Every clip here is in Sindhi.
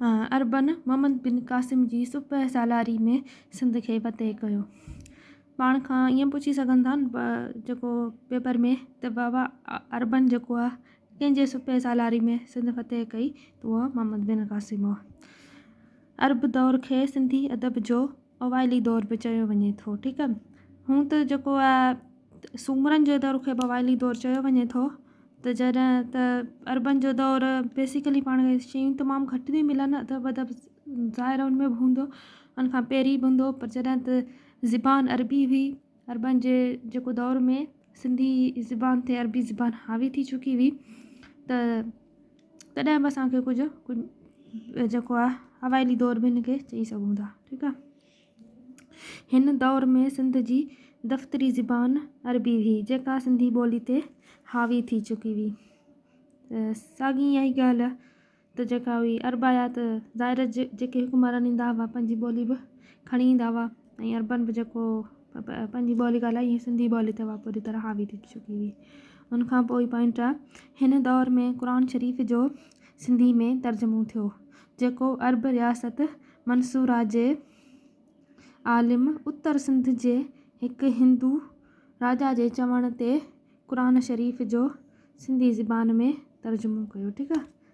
عربن محمد بن قاسم جي سپهه سالاري ۾ سنڌ کي فتح ڪيو. پاڻ کان ائين پڇي سگهن ٿا جيڪو پيپر ۾ ته بابا عربن جيڪو آ ڪنهن جي سپهه سالاري ۾ سنڌ فتح ڪئي ته اهو محمد بن قاسم هو. عرب دور کي سنڌي ادب جو. اوائلي دور به چيو وڃي ٿو ٺيڪ ا هون ته جيڪو آ سومرن جو دور کي بوائلي دور چيو وڃي ٿو ته جڏهن ته اربن جو دور بيسيڪلي پاڻ کي شيون تمام گهٽ ٿي ملن اٿو ادب ظاهر ان ۾ به هوندو ان کان پهرين به هوندو پر جڏهن ته زبان اربي هئي اربن جي جيڪو دور ۾ سنڌي زبان تي اربي زبان حاوي ٿي چڪي هئي ته تڏهن به اسان کي ڪجهه ڪجهه جيڪو آهي اوائلي دور به هن کي چئي سگهون ٿا ٺيڪ آهي هن دور ۾ سنڌ جي دفتري زبان عربي هئي جيڪا سنڌي ٻولي تي حاوي ٿي چڪي هئي ساڳي اها ئي ڳالهه ته جيڪا هئي عربايات ظاهر جي جيڪي حڪمران ايندا هئا پنهنجي ٻولي به کڻي ايندا هئا ۽ عربن به جيڪو پنهنجي ٻولي ڳالهائي هي سنڌي ٻولي تي پوري طرح حاوي ٿي چڪي هئي ان کان پوء پوائنٽ آ هن دور ۾ قرآن شريف جو سنڌي ۾ ترجمو ٿيو جيڪو عرب رياست منصوره جي عالم اتر سنڌ جي هڪ هندو راجا جي چوڻ تي قرآن شريف جو سنڌي زبان ۾ ترجمو ڪيو ٺيڪ آ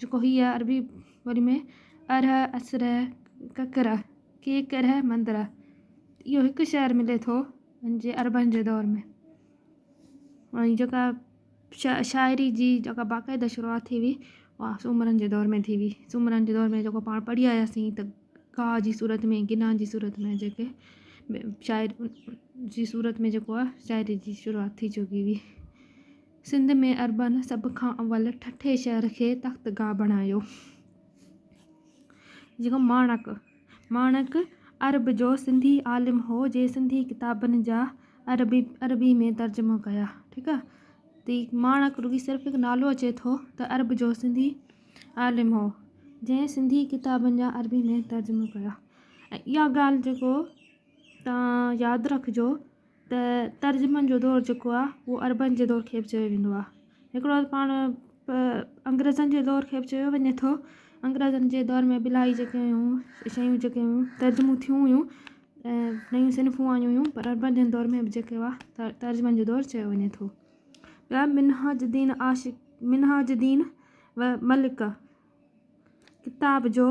جيڪو هيء عربي ٻوليء ۾ ارهه، اسره، ڪڪره، ڪيڪره، مندره، اهو هڪ شعر ملي ٿو ان جي عربن جي دور ۾. ۽ جيڪا شا شاعري جي جيڪا باقاعده شروعات ٿي هئي اها سومرن جي دور ۾ ٿي هئي. سومرن جي دور ۾ جيڪو پاڻ پڙهي آياسين ته ڪا جي صورت ۾ ڪنا جي صورت ۾ جيڪي شاعر جي صورت ۾ جيڪو آهي شاعري جي شروعات ٿي چڪي هئي. سنڌ ۾ عربن سڀ کان اول ٺٽي شهر کي تخت گاهه بڻايو. جيڪو ماڻڪ، Manak، عرب جو سنڌي عالم هو جنهن سنڌي ڪتابن جا عربي عربي ۾ ترجمو ڪيا. ٺيڪ آ. تي ماڻڪ رڳي صرف هڪ نالو اچي ٿو ته عرب جو سنڌي عالم هو جنهن سنڌي ڪتابن جا عربي ۾ ترجمو ڪيا ۽ اها ڳالهه جيڪو تان ياد رکجو ته ترجمن جو دور جيڪو آ اهو عربن جي دور کي به چيو ويندو آ هڪڙو پاڻ انگريزن جي دور کي به چيو وڃي ٿو انگريزن جي دور ۾ به الاهي جيڪي هيون شيون جيڪي هيون ترجمون ٿيون هيون ۽ نيون صنفون آيون هيون پر عربن جي دور ۾ به جيڪي هئا ته ترجمن جو دور چيو وڃي ٿو ٻيا منهاج الدين عاشق منهاج الدين و ملڪ ڪتاب جو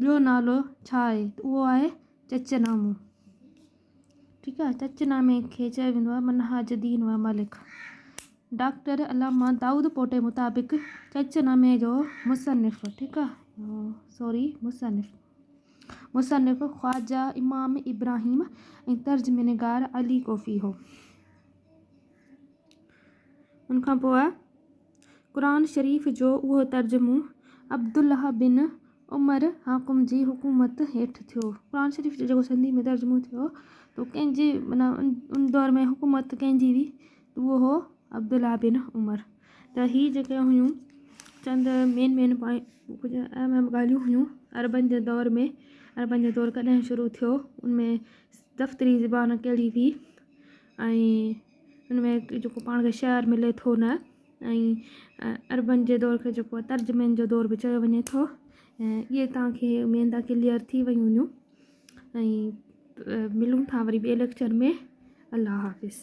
ٻيو نالو ڇا آهي اهو آهي چچ نامو ٺيڪ آهي چچ نامي کي چيو ويندو آهي منهاج الدين و ملڪ ڊاڪٽر علامه دائود پوٽي مطابق چچ نامي جو مصنف ٺيڪ آهي سوري مصنف مصنف خواجه امام ابراهيم ۽ ترجمه نگار علي ڪوفي هو ان کان پوء قرآن شريف جو اهو ترجمو عبدالله بن عمر حاڪم جي حڪومت هيٺ ٿيو. قرآن شريف جو جيڪو سنڌيء ۾ ترجمو ٿيو تو ڪنهن جي معنيٰ ان دور ۾ حڪومت ڪنهن جي هئي تو اهو هو عبدالله بن عمر ته هي جيڪي هيون چند مين مين پوائنٽ اهم اهم ڳالهيون هيون عربن جي دور ۾ عربن جو دور ڪڏهن شروع ٿيو ان ۾ دفتري زبان ڪهڙي هئي ۽ ان ۾ جيڪو پاڻ کي شعر ملي ٿو نه ۽ عربن جي دور کي جيڪو ترجمن جو دور به چيو وڃي ٿو ۽ ائي تان کي اميد آ ڪليئر ٿي ويون هونديون ۽ ملون ٿا وري ٻي ليڪچر ۾ الله حافظ